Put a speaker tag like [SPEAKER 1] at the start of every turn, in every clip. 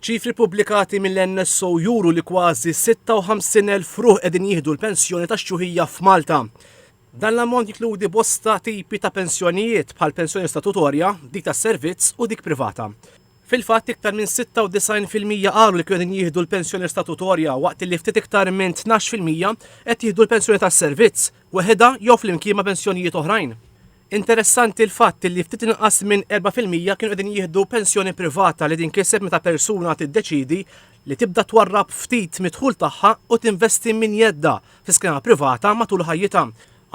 [SPEAKER 1] Ċifri ppubblikati mill-NSO juru li kważi 56,000 ruħ qegħdin jieħdu l-pensjoni tax-xjuħija f'Malta. Dan l-ammont jinkludi bosta tipi ta' pensjonijiet bħal pensjoni statutorja, dik tas-servizz u dik privata. Fil-fatt iktar minn 96 fil-mija qalu li kienu qegħdin jieħdu l-pensjoni statutorja waqt li ftit iktar minn 12 fil-mija qed jieħdu l-pensjoni tas-servizz, weħidha jew flimkien ma' pensjonijiet oħrajn. Interessanti l-fatt li ftit inqas minn erba' fil-mija kienu qegħdin jieħdu pensjoni privata li tinkiseb meta persuna tiddeċiedi li tibda twarrab ftit mid-dħul tagħha u tinvesti minn jeddha fi skema privata matul ħajjitha.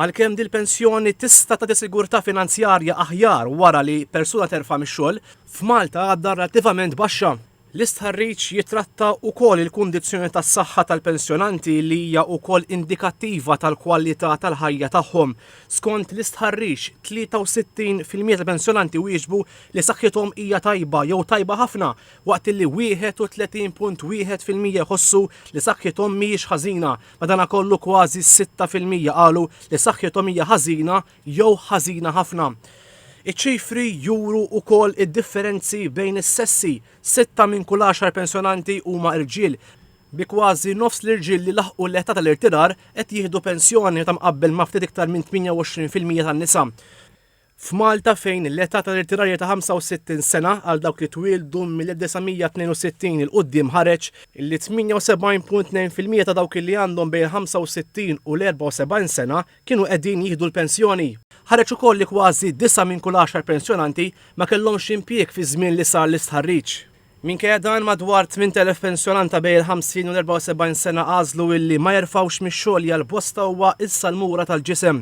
[SPEAKER 1] Għalkemm din il-pensjoni tista' tagħti sigurtà finanzjarja aħjar wara li persuna terfa' mix-xogħol, f'Malta għadha relattivament baxxa. L-istħarriġ jitratta wkoll il-kundizzjoni tas-saħħa tal-pensjonanti li hija wkoll indikattiva tal-kwalità tal-ħajja tagħhom. Skont l-istħarriġ, 63 fil-mija tal-pensjonanti wieġbu li saħħithom hija tajba jew tajba ħafna waqt li 31.1 fil-mija jħossu li saħħithom mhijiex ħażina. Madankollu kważi sitta fil-mija qalu li saħħithom hija ħażina jew ħażina ħafna. Iċ-ċifri juru wkoll id-differenzi bejn is-sessi, sitta minn kull għaxar pensjonanti huma rġiel, bi kważi nofs l-irġiel li laħqu l-età tal-irtirar qed jieħdu pensjoni meta mqabbel ma' ftit iktar minn 28 fil-mija tan-nisa. F'Malta fejn l-età tal-irtirar hija ta' 65 sena għal dawk li twieldu mill-1962 'il quddiem ħareġ li 78.2 fil-mija ta' dawk li għandhom bejn il-65 u l-74 sena kienu qegħdin jieħdu l-pensjoni. Ħareġ ukoll li kważi disgħa minn kull għaxar pensjonanti ma kellhomx impjieg fiż-żmien li sar l-istħarriġ. Minkejja dan, madwar 8,000 pensjonant ta' bejn il-50 u l-74 sena għażlu illi ma jerfgħux mix-xogħol li għal bosta huwa s-salmura tal-ġisem.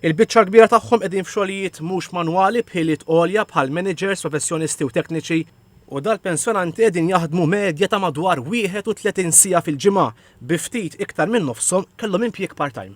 [SPEAKER 1] Il-biċċa l-kbira tagħhom qegħdin f'xogħlijiet mhux manwali b'ħiliet għolja bħal maniġers, professjonisti u tekniċi, u dal-pensjonanti qegħdin jaħdmu medja ta' madwar 31 siegħa fil-ġimgħa bi ftit iktar minn nofshom kellhom impjieg part-time.